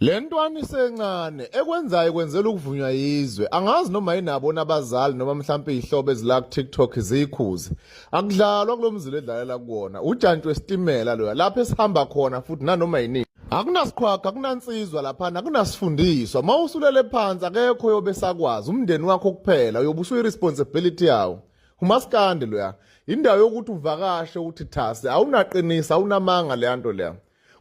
Le ntwana isencane ekwenzayo kwenzela ukuvunywa yizwe angazi noma yinabo nabazali noma mhlawumpe izihlobo ezila ku-tiktok ziyikhuze akudlalwa kulo mzila edlalela kuwona ujantshi wesitimela loya lapho esihamba khona futhi nanoma yiningi akunasikhwakho akunansizwa laphana akunasifundiswa uma usulele phansi akekho yobe sakwazi umndeni wakho kuphela uyobe usuyi-responsibility yawo umasikandi loya indawo yokuthi uvakashe uthi thasi awunaqinisa awunamanga leya nto leya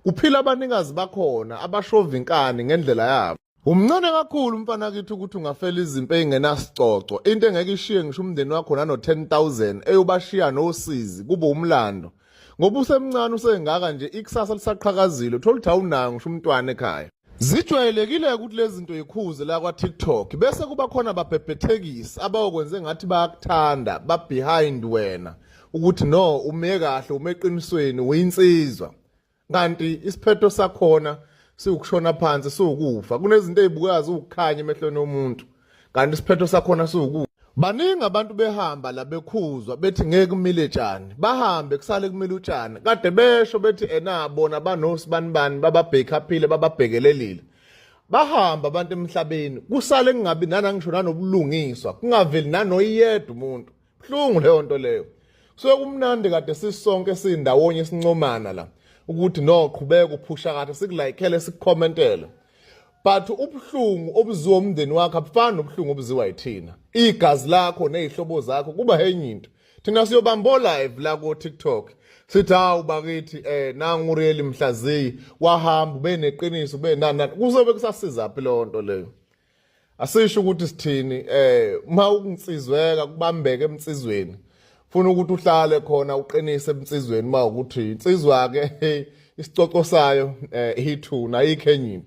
Kuphila abanikazi bakhona abashova inkani ngendlela yabo. Umncane kakhulu umfana kithi ukuthi ungafela izimpi engenasicoco into engeke ishiye ngisho umndeni wakho nano 10000 eyobashiya nosizi kube umlando ngoba usemncane usengaka nje ikusasa lisaqhakazile uthola ukuthi awunayo ngisho umntwana ekhaya Zijwayelekile ukuthi lezi zinto yikhuze la kwa-TikTok bese kuba khona babhebhethekisi abawokwenze ngathi bayakuthanda babehind wena ukuthi no ume kahle ume eqinisweni uyinsizwa kanti isiphetho sakhona siwukushona phansi siwukufa kunezinto ey'bukazi uwukukhanya emehlweni omuntu kanti isiphetho sakhona siwuku baningi abantu behamba la bekhuzwa bethi ngeke kumile tshani bahambe kusale kumile utshani kade besho bethi ena bona banosi banibani bababhekhaphile bababhekelelile bahamba abantu emhlabeni kusale kungabi nanangisho nanobulungiswa kungaveli nanoyedwa umuntu buhlungu leyo nto leyo kusuke kumnandi kade sisonke sindawonye sincomana la ukuthi no qhubeka uphusha kahle sikulayikele sikukhomentele but ubuhlungu obuziwa umndeni wakhe abufani nobuhlungu obuziwa yithina igazi lakho nezihlobo zakho kuba henye into thina siyobambo live la ko TikTok sithi hawu bakithi eh nangu real mhlaziyi wahamba ubeneqiniso ubenana kuzobe kusasiza phi lonto leyo asisho ukuthi sithini eh uma ukuntsizweka kubambeke emtsizweni funa ukuthi uhlale khona uqinise emtsizweni uma ukuthi insizwa ke isicoco sayo eh ithuna ayikho enye into